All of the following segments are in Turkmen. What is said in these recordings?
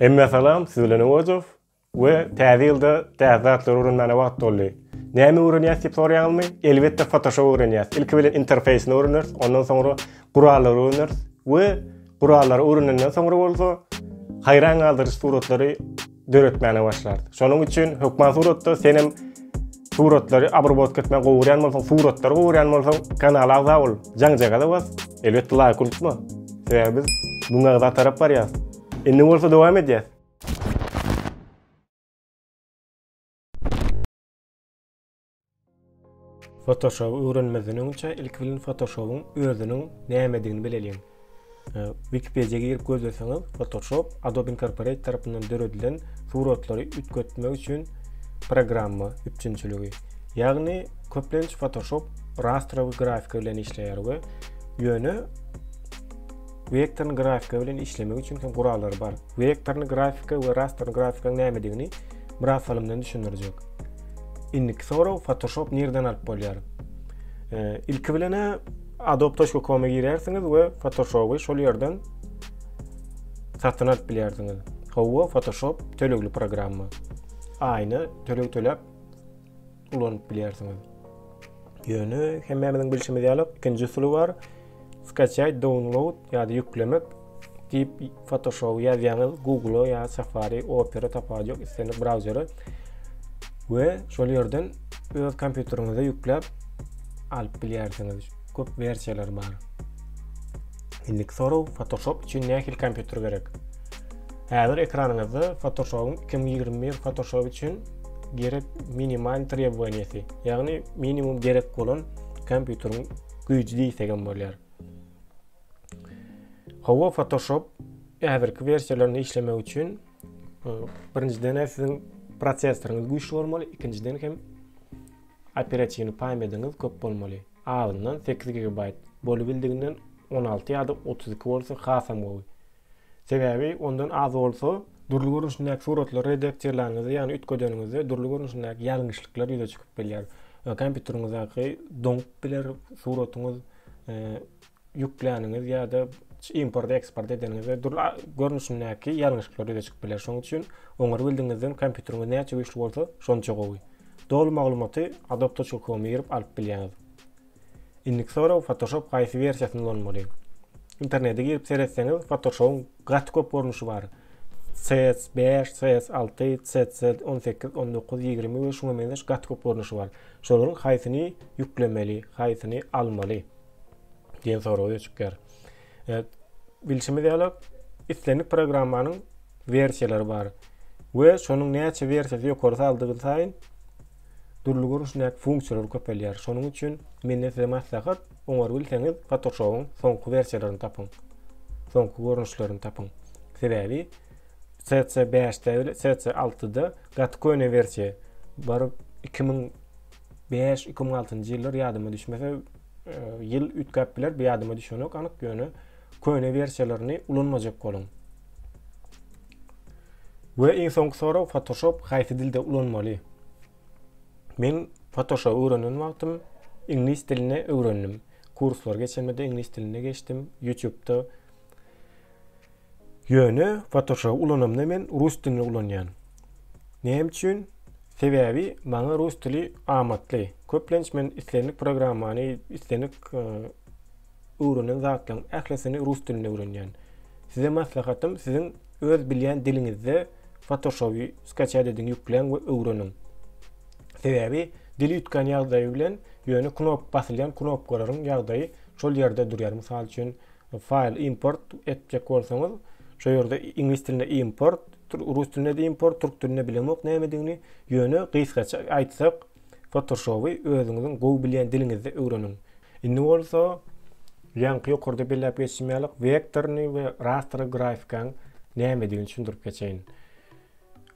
Hemmä salam, siz bilen Owazow we täze ýylda täze zatlary öwrenmäne wagt doldy. Näme öwrenýäs diýip soraýaňyzmy? Elbetde Photoshop öwrenýäs. Ilki bilen interfeýsini öwreneris, ondan soňra gurallary öwreneris we gurallary öwrenenden soňra bolsa haýran galdyryjy suratlary döretmäne başlarys. Şonuň üçin hökman suratda senem Suratlary abrobotk etme gowuryan bolsaň suratlary gowuryan bolsaň kanala agza bol jaňjagaza bas elbetde laýk unutma sebäbi biz müň agza tarap barýas indi bolsa dowam edýäs. Photoshop öwrenmezden öňçe ilki bilen photoshopyň özüniň nämedigini bileliň. Ee, Wikipediýa girip gözleseňiz, Photoshop Adobe Incorporate tarapyndan döredilen suratlary üýtgetmek üçin programma üpjünçiligi. Ýagny köplenç Photoshop rastrowy grafika bilen işleýär we ýöne vektorny grafika bilen işlemek üçin hem gurallary bar. Vektorny grafika we rastrowy grafikaň nämedigini biraz salymdan düşündirjek. Indiki sorag Photoshop nirden alyp bolýar? Ee, ilki bilen Adobe.com-a girersiňiz we Photoshop-y şol ýerden satyn alyp bilersiňiz. Hawa, Photoshop tölegli programma. Aýna töleg töläp ulanyp bilersiňiz. Ýöne hemmämiziň bilşimiz ýaly ikinji usuly bar. Skachýaýt, download ýa-da ýüklemek. Diýip Photoshop ýazýaňyz Google ýa Safari, Opera tapawudy ýok, islendik brauzere we şol ýerden öz kompýuteriňize ýükläp alyp bilýärsiňiz. Köp wersiýalar bar. Indiki soraw Photoshop üçin nähili kompýuter gerek? Häzir ekranyňyzda Photoshop-yň 2021 Photoshop üçin gerek minimal trebowaniýeti, ýagny minimum gerek bolan kompýuteriň güýji diýsegem bolýar. Hawa Photoshop häzirki wersiýalarynda işlemek üçin e, birinjiden hem siziň prosesoryňyz güýçli bolmaly, ikinjiden hem operatiwny paýmediňiz köp bolmaly. Azyndan 8 GB bolubildiginden 16 ýa-da 32 bolsa hasam gowy. Sebäbi ondan az bolsa dürli görnüşindäki suratlary redaktirlänizde, ýagny üýtgedenizde dürli görnüşindäki ýalňyşlyklar ýüze çykyp bilýär. E, kompýuteriňizdäki doňup biler suratyňyz e, ýükläniňiz ýa-da import eksport edeniňizde dürli görnüşindäki ýalňyşyklar ýüze çykyp biler. Şonuň üçin oňary bildigiňizden kompýuteriňiz näçe güýçli bolsa, şonça gowy. Doly maglumaty Adobe.com girip alyp bilýäňiz. Indiki sorag Photoshop haýsy wersiýasyny ulanmaly? Internete girip seretseňiz, Photoshop-yň gaty köp görnüşi bar. CS5, CS6, CC 18, 19, 20 we şuňa meňzeş gaty köp görnüşi bar. Şolaryň haýsyny ýüklemeli, haýsyny almaly? diýen sorag öýe çykýar. E, bilşimiz ýaly islendik programmanyň versiýalary bar we şonuň näçe versiýasy ýokary saldygy saýyn dürli görnüşdäki funksiýalar köpelýär. Şonuň üçin menden size maslahat, oňar bilseňiz Photoshop-yň soňky versiýalaryny tapyň. Soňky görnüşlerini tapyň. Sebäbi CC5-de, CC6-da gaty köne versiýa baryp 2000 Bäş, iki müň altynjy ýyllar ýadyma düşmese, e, ýyl üýtgäp biler, bu ýadyma düşenok anyk, ýöne köne wersiýalaryny ulanmajak boluň. We iň soňky sorag Photoshop haýsy dilde ulanmaly? Men Photoshop öwrenen wagtym iňlis dilini öwrendim. Kurslar geçenimde iňlis dilinde geçdim. YouTube-da Ýöne fotoşoby ulanamda men rus dilini ulanýan. Näme üçin? Sebäbi maňa rus dili amatly. Köplenç men islendik programmany, islendik öwrenen zatlaryň ählisini rus dilinde öwrenýän. Size maslahatym siziň öz bilýän diliňizde fotoşoby skaçat ediň ýükläň we öwreniň. Sebäbi dil üýtgän ýagdaýy bilen ýöne knop basylýan knopkalaryň ýagdaýy şol ýerde durýar. Mysal üçin File import etjek bolsaňyz şu ýerde iňlis dilinde import rus dilinde import türk dilinde bilemok nämedigini ýöne gysgaça aýtsak fotoshowy özüňiziň gowy bilýän diliňizde öwreniň indi bolsa ýaňky ýokarda belläp geçdim ýaly wektorny we rastry grafikaň nämedigini düşündirip geçeýin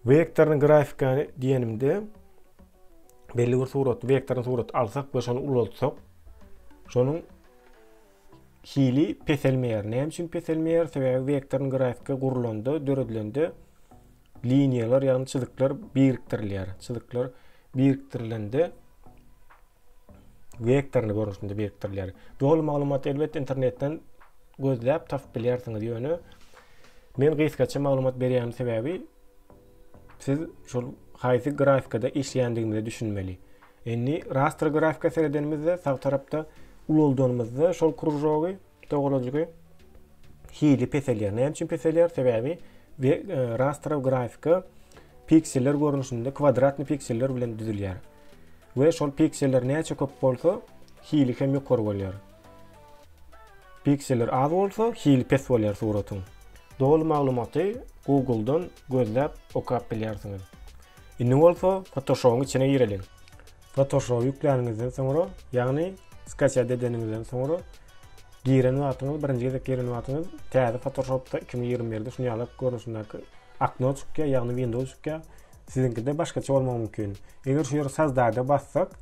wektorny grafikany diýenimde belli bir surat wektorny surat alsak we şony ulaltsak şonuň hili peselmeýär. Näme üçin peselmeýär? Sebäbi wektorny grafika gurlanda, döredilende liniýalar, ýagny çyzyklar birikdirilýär. Çyzyklar birikdirilende wektorny görnüşinde birikdirilýär. Doly maglumaty elbetde internetden gözläp tapyp bilýärsiňiz, ýöne men gysgaça maglumat berýän sebäbi Siz şol haýsy grafikada işleýändigimize düşünmeli. Indi rastr grafika seredenimizde sag tarapda ulaldanymyzda şol kružogy, dograjygy hili peselýär. Näme üçin peselýär? Sebäbi e, rastrow grafika pikseller görnüşinde kwadratny pikseller bilen düzülýär. We şol pikseller näçe köp bolsa, hili hem ýokary bolýar. Pikseller az bolsa hili pes bolýar suratyň. Doly maglumaty Google-dan gözläp okap bilýärsiňiz. Indi bolsa Photoshop-yň içine gireliň. Photoshop ýükläniňizden soňra, ýagny skatiýat edeniňizden soňra giren wagtyňyz, birinji gezek giren wagtyňyz täze Photoshop-da iki müň ýigrimi birde şuny ýaly görnüşindäki akno çykýar, ýagny Windows çykýar. Siziňkide başgaça bolmagy mümkin. Eger şu ýere sozdada bassak,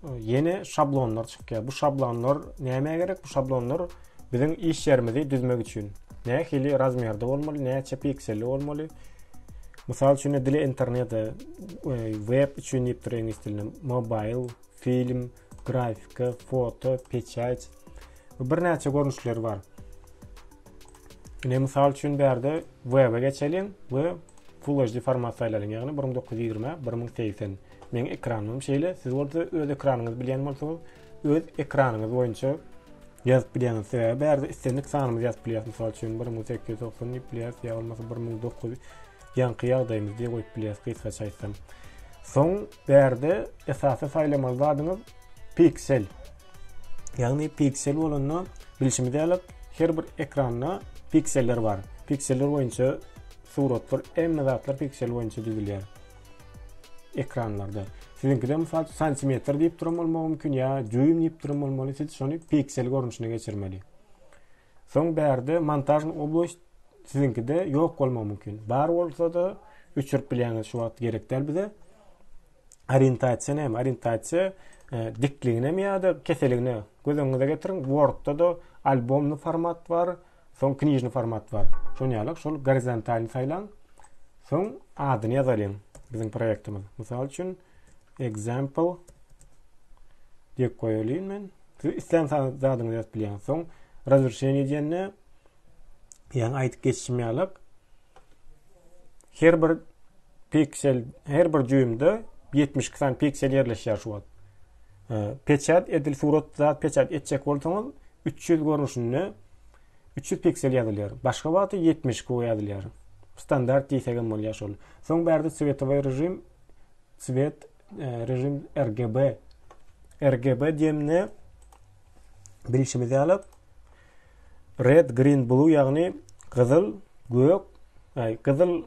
ýene şablonlar çykýar. Bu şablonlar näme gerek? Bu şablonlar biziň iş ýerimizi düzmek üçin. Nähili razmerde bolmaly, näçe pikseli bolmaly? Mysal üçin, dile internet, e, web üçin diýipdir iňlis dilinde, mobil, film, grafika, foto, peçat. Birnäçe görnüşleri bar. Ine mysal üçin bärde web-e geçeliň we Full HD format saýlalyň, ýagny 1920 1080. Meň ekranymym şeýle, siz bolsa öz ekranyňyzy bilýän bolsaňyz, öz ekranyňyz boýunça ýazyp bilýäňiz. Sebäbi bärde islendik sanymyzy ýazyp bilýäs. Mysal üçin 1890 diýip bilýäs, ýa bolmasa 1900 ýaňky ýagdaýymyz diýip goýup bilýäs gysgaça aýtsam. Soň bärde esasy saýlamaly zadyňyz piksel. Ýagny piksel bolanda bilşimiz ýaly her bir ekranda pikseller bar. Pikseller boýunça suratlar, hemme zatlar piksel boýunça düzülýär. ekranlarda. Siziňkide mysal üçin santimetr diýip duran bolmagy mümkin ýa düým diýip duran bolmaly. Siz şony piksel görnüşine geçirmeli. Soň bärde montažny oblost siziňkide ýok bolmagy mümkin. Bar bolsa-da öçürip bilýäňiz şu wagt gerek däl bize. Orientasiýa näme? Orientasiýa e, dikligine mi ýa-da keseligine göz öňüňize getiriň. Wordda-da albomly format bar, Soň knižny format bar. Şony ýalyk şol gorizontalny saýlaň. Soň adyny ýazalyň. Biziň proýektimiz. Mysal üçin example diýip goýalyň men. Siz islän zadyňyzy ýazyp bilýäňiz. Soň razrşeniýe diýende ýaňy aýdyp geçişim ýalyk her bir piksel, her bir düýmde 72 sany piksel ýerleşýär şu wagt. Peçat edil surat zat peçat etjek bolsaňyz üç ýüz görnüşinde üç ýüz piksel ýazylýar. Başga wagty ýetmiş ku ýazylýar. Standart diýsegem bolýar şol. Soň bärde swetowy režim svet e, režim RGB RGB diýende bilşimiz ýaly red green blue ýagny gyzyl gök gyzyl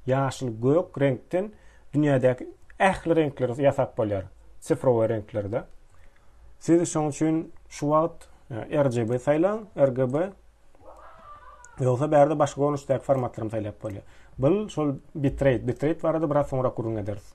ýaşyl gök reňkden dünýädäki ähli reňkleri ýasap bolýar. Sifrowy reňklerde. Siz şoň üçin şu wagt e, RGB saýlaň, RGB Ýogsa bärde başga görnüşdäki formatlaryny saýlap bolýar. Bu şol bitrate, bitrate barada biraz soňra gürrüň ederis.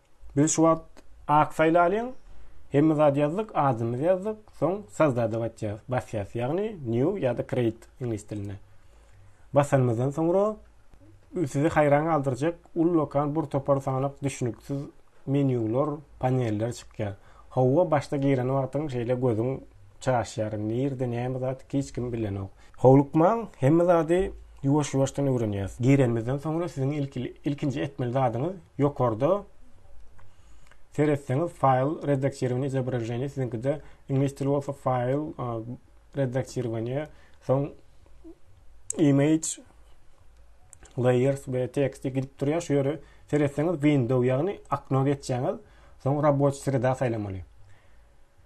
Biz şu wagt ak faýl alyň, hemme zady ýazdyk, adymyzy ýazdyk, soň sozdada batýas, basýas, ýagny new ýa-da create iňlis dilinde. Basanymyzdan soňra sizi haýran galdyrjak ullakan bir topar sanalyk düşnüksiz menýular, paneller çykýar. Howwa başda giren wagtyň şeýle gözüň Çaşýaryn. Nirde näme zat hiç kim bilenok. Howlukmaň, hemme zady ýuwaş-ýuwaşdan öwrenýäs. Girenimizden soňra siziň ilkinji etmeli zadyňyz ýokarda seretseňiz faýl redaktirowaniýa izobraženiýa siziňkide iňlis dili bolsa faýl redaktirowaniýa soň image layers we tekst gidip durýar şu ýere seretseňiz window ýagny okno geçýäňiz soň raboçi sreda saýlamaly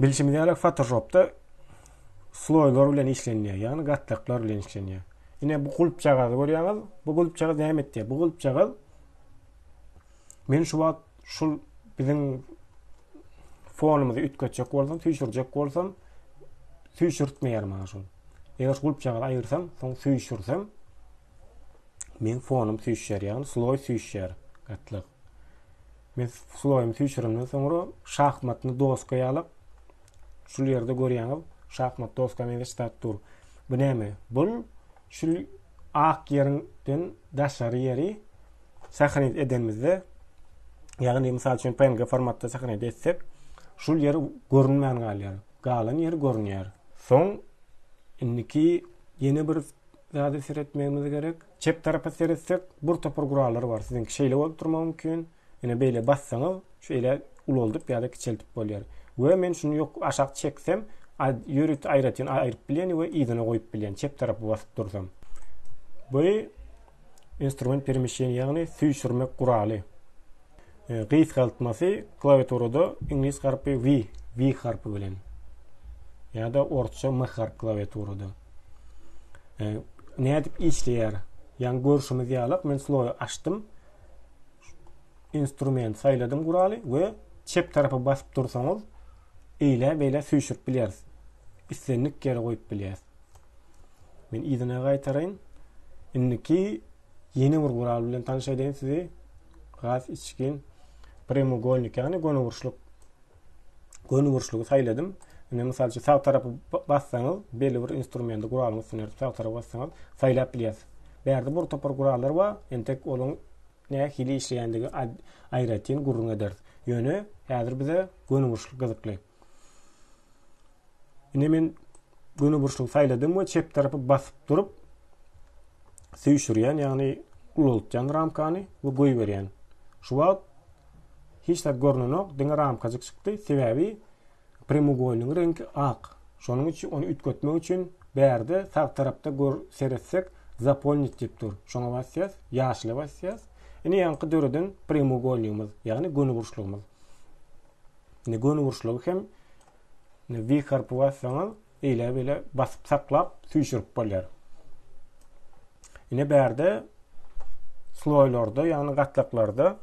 Bilşimiz ýaly Photoshopda sloýlar bilen işlenýär, ýagny gatlaklar bilen işlenýär. Ine bu gulpjagazy görýäňiz? Bu gulpjagaz näme etdi? Bu gulpjagaz men şu wagt şu biziň fonumyzy üýtgetjek bolsam, süýşürjek bolsam, süýşürtmeýär maňa şol. Eger gulpjagazy aýyrsam, soň süýşürsem, men fonum süýşýär, ýagny sloý süýşýär gatlak. Men sloýumy süýşürenden soňra şahmatny doska ýalap, şul ýerde görýäňiz, şahmat doska meňzeş zat dur. Bu näme? Bul şul ak ýerinden daşary ýeri sahnit edenimizde, ýagny mysal üçin PNG formatda sahnit etsek, şul ýeri görünmän galýar. Galan ýeri görünýär. Soň indiki ýene bir zady seretmegimiz gerek. Çep tarapa seretsek bur topar gurallar bar siziňki şeýle bolup durmagy mümkin ine beýle bassaňyz şeýle ulaldyp ýa-da kiçeltip bolýar we men şuny ýok aşak çeksem ýörite aýratyn aýryp bilýän we yzyna goýup bilýän çep tarapa basyp dursam bu instrument peremyşleniýa ýagny süýşürmek guraly. E, gysgaltmasy klawiaturada iňlis harpy V, V harpy bilen. Ýa-da orsça M harp klawiaturada. E, nädip işleýär? Ýaňy görşümiz ýaly, men slowy açdym. Instrument saýladym guraly we çep tarapa basyp dursaňyz, eýle beýle süýşürip bilýäris. Islendik ýere goýup bilýäris. Men yzyna gaýtaraýyn. Indiki Ýene bir gural bilen tanyş edeýin sizi. Gaz içgin premogolnik ýagny gönüburçluk gönüburçlugy saýladym. Indi mysal üçin sag tarapy bassaňyz, belli bir instrumenti guralyň üstüne ýörüp sag tarapy bassaňyz saýlap bilýäs. Bu ýerde bir topar gurallar bar, entek olaryň nähili işleýändigi aýratyn gürrüň ederis. Ýöne häzir bize gönüburçluk gyzykly. Ine men göni burçlugy saýladym we çep tarapy basyp durup süýşürýän, ýagny ulaltýan ramkany we goýberýän. Şu wagt hiç zat görnenok, diňe ramkajyk çykdy, sebäbi premougoýlynyň reňki ak. Şonuň üçin ony üýtgetmek üçin bärde sag tarapda gör seretsek zapolnit diýip dur. Şoňa basýas, ýaşyla basýas. Ine ýaňky döreden premougoýlygymyz, ýagny göni burçlygymyz. Indi göni uruşlygy hem indi V harpy bassaňyz eýle beýle basyp saklap süýşürip bolýar. Ine bärde sloýlarda, ýagny gatlaklarda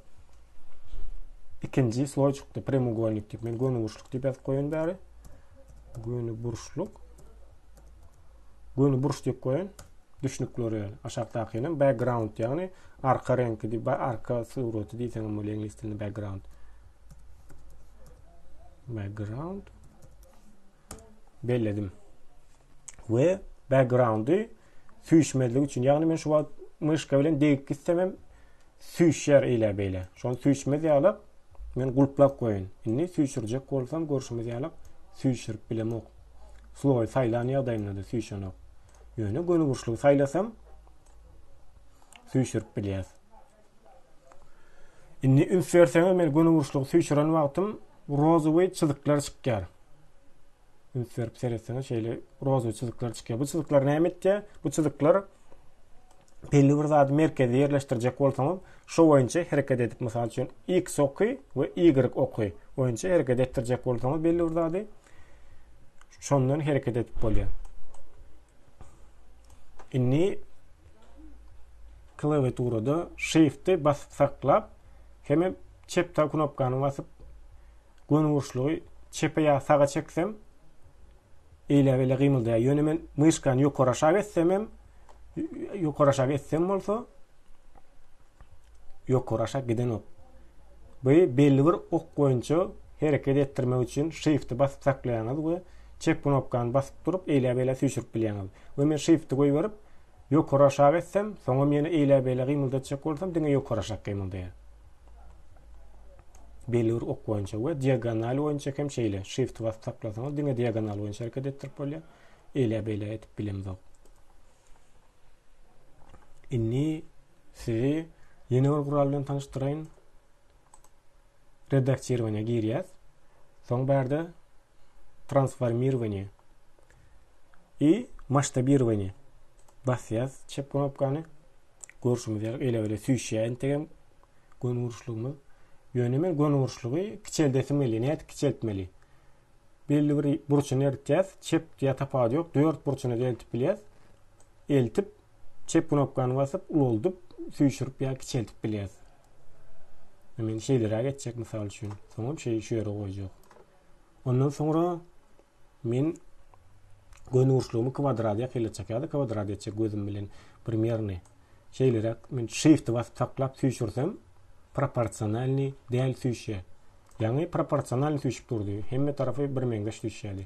ikinji sloý çykdy, premougoýnik diýip. Men göni burçluk diýip ýazyp goýun bäri. Göni burçluk. Göni burç diýip goýun. Düşnükleri ýaly. Aşakdaky ýaly background, ýagny arka reňki diýip, arka suraty diýseň hem bolýar iňlis dilinde background. background belledim. Ve backgroundy süýşmezlik üçin. Yani men şu wagt myşka bilen degip gitsem hem süýşer eýle beýle. Şony süýşmez ýalyk men gulplap goýun. Indi süýşürjek bolsam görşümiz ýalyk süýşürip bilemok. Slowy saýlan ýagdaýymda da süýşenok. Ýöne gönüburçlygy saýlasam süýşürip bilýär. Indi üns berseňiz men gönüburçlygy süýçüren wagtym rozowy çyzyklar çykýar. Üns berip seretseňiz şeýle rozowy çyzyklar çykýar. Bu çyzyklar näme etýär? Bu çyzyklar belli bir zady merkezi ýerleşdirjek bolsaňyz, şo boýunça hereket edip, mysal üçin, X oky we Y oky boýunça hereket etdirjek bolsaňyz belli bir zady, şondan hereket edip bolýar. Indi Klawiaturada Shift-i basyp saklap, hemem çep sag knopkany basyp, gönüburçlugy çepe ýa saga çeksem, eýläbelä gymyldaýar. Ýöne men myşkany ýokary-aşak etsem hem, ýokary-aşak etsem bolsa, ýokary-aşak gidenok. Bu belli bir ok boýunça hereket etdirmek üçin Shift-i basyp saklaýaňyz we çep knopkany basyp durup, eýläbelä süýşürip bilýäňiz. We men Shift-i goýberip, Ýokary-aşak etsem, soňam ýene eýläbeýlä gymyldatjak bolsam, diňe ýokary-aşak gymyldaýar. Belur ok boýunça we diagonal boýunça hem şeýle. Shift basyp saklasaňyz, diňe diagonal boýunça hereket etdirip bolýar. Eýläbeýlä edip bilemzok. Indi sizi ýene bir gural bilen tanyşdyraýyn. Redaktirowaniýa girýäs. Soň bärde transformirowaniýa i masştabirowaniýa basýas çep knopkany. Görşümiz ýaly ele-bele süýşýär entegem gön uruşlygymyz. Ýöne men gön uruşlygy kiçeldesim gelýär. Nädip kiçeltmeli? Belli bir burçuny eritýäs. Çep ýa tapawudy ýok. Dört burçuny eltip bilýäs. Eltip Çep knopkany basyp ulaldyp, süýşürip ýa kiçeltip bilýäs. Men şeýleräk etjek mysal üçin. Soňam şeý şu ýere goýjak. Ondan soňra men gönügurçlugymy kwadrat ýakylacak ýa-da kwadrat etjek gözüm bilen primýerni. Şeýleräk men shift basyp saklap süýşürsem proporsionalny däl süýşýär. Ýaňy proporsionalny süýşüp durdy. Hemme tarapy birmeňzeş süýşýärdi.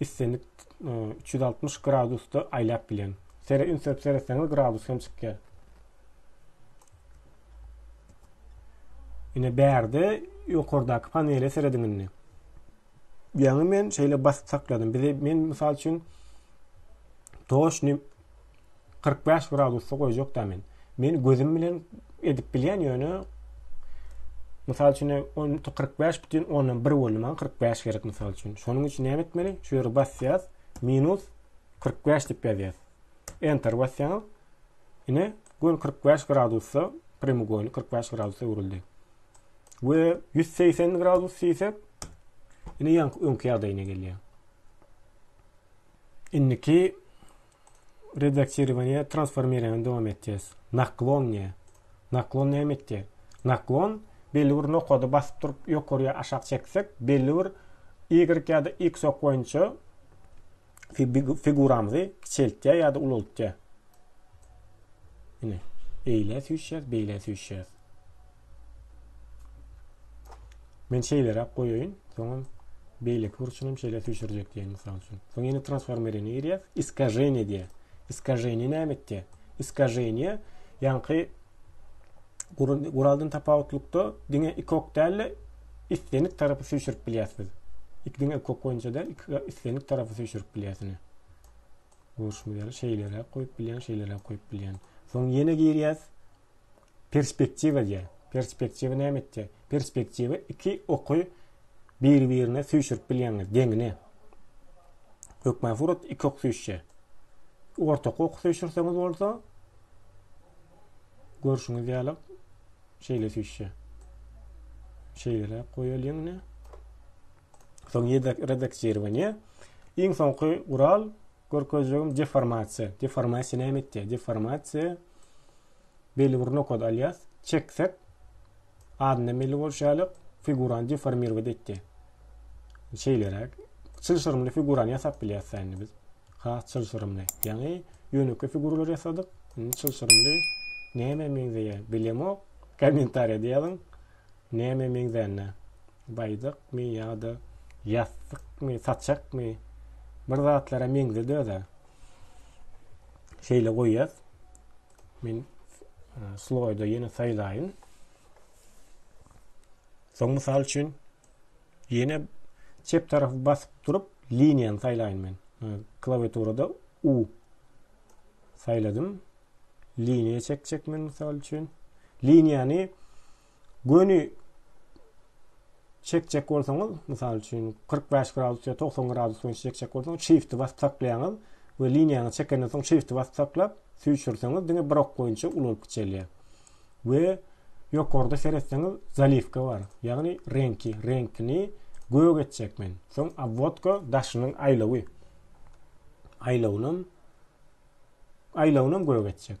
islendik e, üç ýüz altmyş gradusda aýlap bilýän sere ünsürip seretseňiz gradus hem çykýar ine bärde ýokardaky panele serediň indi ýaňy men şeýle basyp sakladym bize men mysal üçin toşny Kyrk bäş gradusda goýjakda men. Men gözüm bilen edip bilýän ýöne Mysal üçin, on kyrk bäş bütin ondan bir boldy. Maňa kyrk bäş gerek mysal üçin. Şonuň üçin näme etmeli? Şu ýere basýas, minus kyrk bäş diýip ýazýas. Enter basýaňyz. Ine, göl kyrk bäş gradusda premougoýny kyrk bäş gradusda öwrüldi. We ýüz segsen gradus diýsek, ine ýaňky öňki ýagdaýyna gelýär. Indiki Redaktirowaniýe transformirowaniýe dowam etýäs. Naklon diýä. Naklon näme etýär? Naklon belli bir nokady basyp durup ýokary ýa aşak çeksek belli bir y ýa-da x ok boýunça figuramyzy kiçeltýär ýa-da ulaltýar. Ine, beýle süýşýär, beýle süýşýär. Men şeýleräk goýaýyn. Soňam beýleki burçuny hem şeýle süýşürjek diýen mysal üçin. Soň ýene transformerine girýär. Iskajenie diýär. Iskajenie näme etdi? Iskajenie ýaňky guraldan tapawutlykda diňe iki ok däl-de islendik tarapy süýşürip bilýärsiz. Iki diňe iki ok boýunça däl, iki islendik tarapy süýşürip bilýärsiň. Görüşmeli şeýleräk goýup bilýän, şeýleräk goýup bilýän. Soň ýene girýär. Perspektiwa diýer. Perspektiwa näme etýär? Perspektiwa iki oky biri-birine süýşürip bilýäňiz, deňine. Hökman surat iki ok süýşýär. Ortak ok süýşürseňiz bolsa, görşüňiz ýaly şeýle süýşýär. Şeýle goýalyň ine. Soň redaksirowaniýe. Iň soňky gural görkezjegim deformasiýa. Deformasiýa näme etýär? Deformasiýa Belli bir nokat alýas. Çeksek, adyndan belli bolşy ýaly, figurany deformirowat etdi. Şeýleräk. Çylşyrymly figurany ýasap bilýäs indi biz. Has çylşyrymly. Ýaňy ýönekeý figuralary ýasadyk. Indi çylşyrymly nämä meňzeýär? Bilemok. Kommentariýada ýazyň. Nämä meňzänine. Baýdakmy ýa-da ýassykmy, saçakmy? Bir zatlara meňzedi özä. Şeýle goýýas. Men sloýda ýene saýlaýyn. Soň mysal üçin ýene çep tarafy basyp durup liniýany saýlaýyn men. Klawiaturada U saýladym. Liniýa çekjek men mysal üçin. Liniýany göni çekjek bolsaňyz, mysal üçin 45 gradus ýa 90 gradus boýunça çekjek bolsaňyz, shift basyp saklaýaňyz we liniýaňyzy çekenden soň shift basyp saklap, süýşürseňiz diňe bir ok boýunça ulalyp giçelýär. We ýokarda seretseňiz zaliwka bar. Ýagny reňki, reňkini gök etjek men. Soň obwodka daşynyň aýlawy. Aýlawynam aýlawynam gök etjek.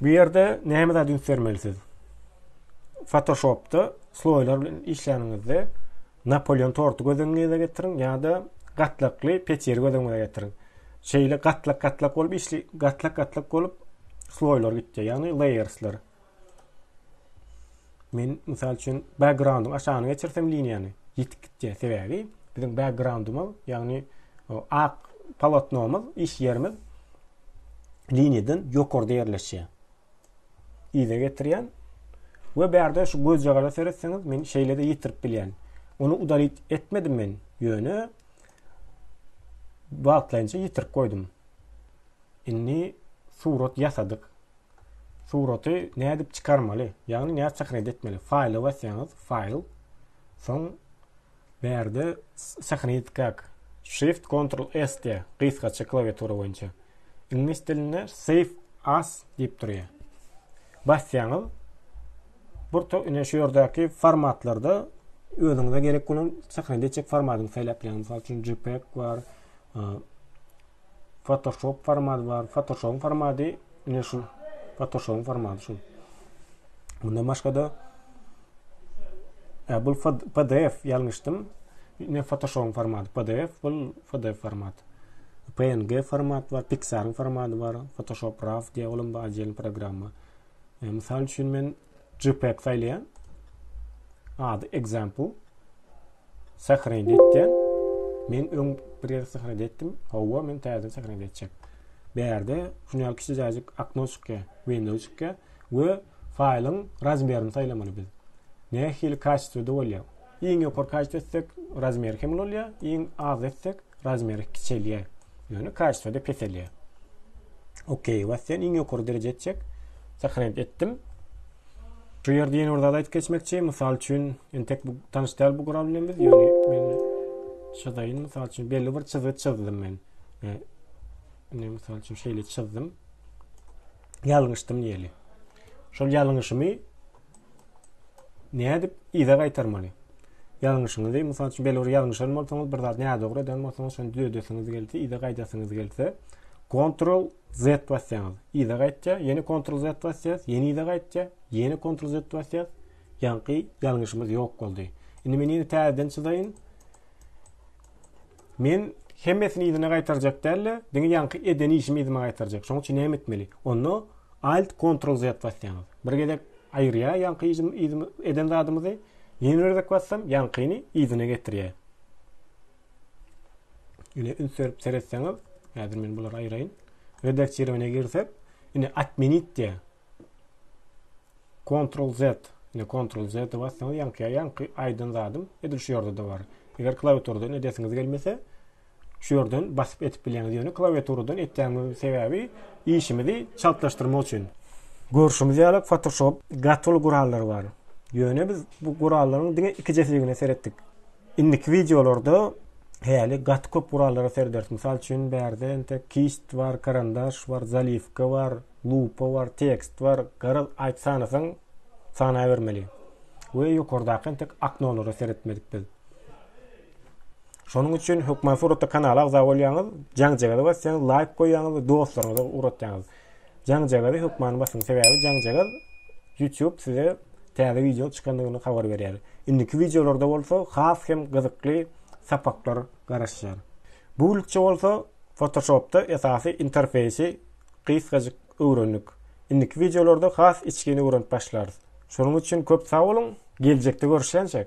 Bu ýerde näme zat üns bermeli siz? Photoshopda sloýlar bilen işlänizde Napoleon torty göz öňüňize getiriň ýa-da gatlakly peçeri göz öňüňize getiriň. Şeýle gatlak-gatlak bolup işli gatlak-gatlak bolup sloýlar gitdi, ýagny layersler. Men mysal üçin backgroundyň aşagyny geçirsem liniýany ýitip gitýär. Sebäbi biziň backgroundymyz, ýagny ak polotnomyz, iş ýerimiz liniýadan ýokarda ýerleşýär. Yza getirýän we bärde şu gözjagara seretseňiz men şeýle-de ýitirip bilýän. Ony udalit etmedim men, ýöne wagtlaýynça ýitirip goýdum. Indi surat ýasadyk. Suraty nädip çykarmaly? Ýagny nädip sahnede etmeli? Faýla basýaňyz, faýl. Soň bärde sahnede etdik ak. Shift Ctrl S diýä, gysgaça klawiatura boýunça. Iňlis dilinde Save as diýip durýar. Basýaňyz. Burta ine şu ýerdäki formatlarda özüňize gerek bolan sahnede etjek formatyny saýlap bileňiz. Mysal üçin JPEG bar, Photoshop format bar. Photoshop formady ine şu. Photoshop formaty şu. Bundan başga da e, bu PDF ýalňyşdym. Ine Photoshop formaty PDF, bu PDF format. PNG format bar, Pixar formaty bar, Photoshop RAW diýen olam bar, programma. E, misal üçin men jpeg saýlaýan. Ady example. Sahrenit etýän. Men öň bir ýere sahrenit etdim. Hawa, men täzeden sahrenit etjek. Bu ýerde şuny ýaly kiçijäjik okno çykýar, window çykýar we faýlyň razmerini saýlamaly biz. Nähili kaçtwda bolýar? Iň ýokary kaşit etsek, razmeri hem ulalýar, iň az etsek, razmeri kiçelýär. Ýöne kaşitde peselýär. OK basýan, iň ýokary dereje etjek. Sahrent etdim. Şu ýerde ýene bir zat aýdyp geçmekçi. Mysal üçin, entek bu tanyş däl bu gural bilen biz, ýöne men çyzaýyn. Mysal üçin, belli bir çyzgy çyzdym men. Indi mysal üçin şeýle çyzdym. Ýalňyşdym diýeli. Şol ýalňyşymy Nädip yza gaýtarmaly? Ýalňyşyňyzy, mysal üçin, belli bir ýalňyşan bolsaňyz, bir zat nädogry eden bolsaňyz, şony düzedesiňiz gelse, yza gaýdasyňyz gelse, Ctrl Z basýaňyz, yza gaýtýar, ýene Ctrl Z basýas, ýene yza gaýtýar, ýene Ctrl Z basýas, ýaňky ýalňyşymyz ýok boldy. Indi men ýene täzeden çyzaýyn. Men hemmesini yzyna gaýtarjak däl-de, diňe ýaňky eden işimi yzyma gaýtarjak. Şoň üçin näme etmeli? Onda Alt Ctrl Z basýaňyz. Bir gezek aýyrýar ýaňky işimi yzymy eden zadymyzy. Ýene bir gezek bassam ýaňkyny yzyna getirýär. Ine üns berip seretseňiz, häzir men bulary aýraýyn. Redaktirowaniýa girsek, ine atmenit diýär. Ctrl Z ine Ctrl Z de bassaňyz ýaňky ýaňky aýdan zadym edil şu ýerde de bar. Eger klawiaturadan edesiňiz gelmese şu ýerden basyp etip bilýäňiz. Ýöne klawiaturadan etýämiň sebäbi işimizi çaltlaşdyrmak üçin. Görşümiz ýaly Photoshop gaty uly gurallary bar. Ýöne biz bu gurallaryň diňe iki jesigine seretdik. Indiki wideolarda häli gaty köp gurallara serederis. Mysal üçin, bärde entek kist bar, karandaş bar, zaliwka bar, lupa bar, tekst bar. Garaz, aýt sanasaň, sanabermeli. We ýokardaky entek aknolara seretmedik biz. Şonuň üçin hökman suratda kanala agza bolýaňyz, jaňjagaza basýaňyz, laýk goýýaňyz we dostlaryňyza ugratýaňyz. Jaňjagazy hökmany basyň sebäbi jaňjagaz YouTube size täze wideo çykandygyny habar berýär. Indiki wideolarda bolsa has hem gyzykly sapaklar garaşýar. Bulikçe bolsa Photoshopda esasy interfeýsi gysgajyk öwrendik. Indiki wideolarda has içgin öwrenip başlarys. Şonuň üçin köp sag boluň, geljekde görüşýänçäk!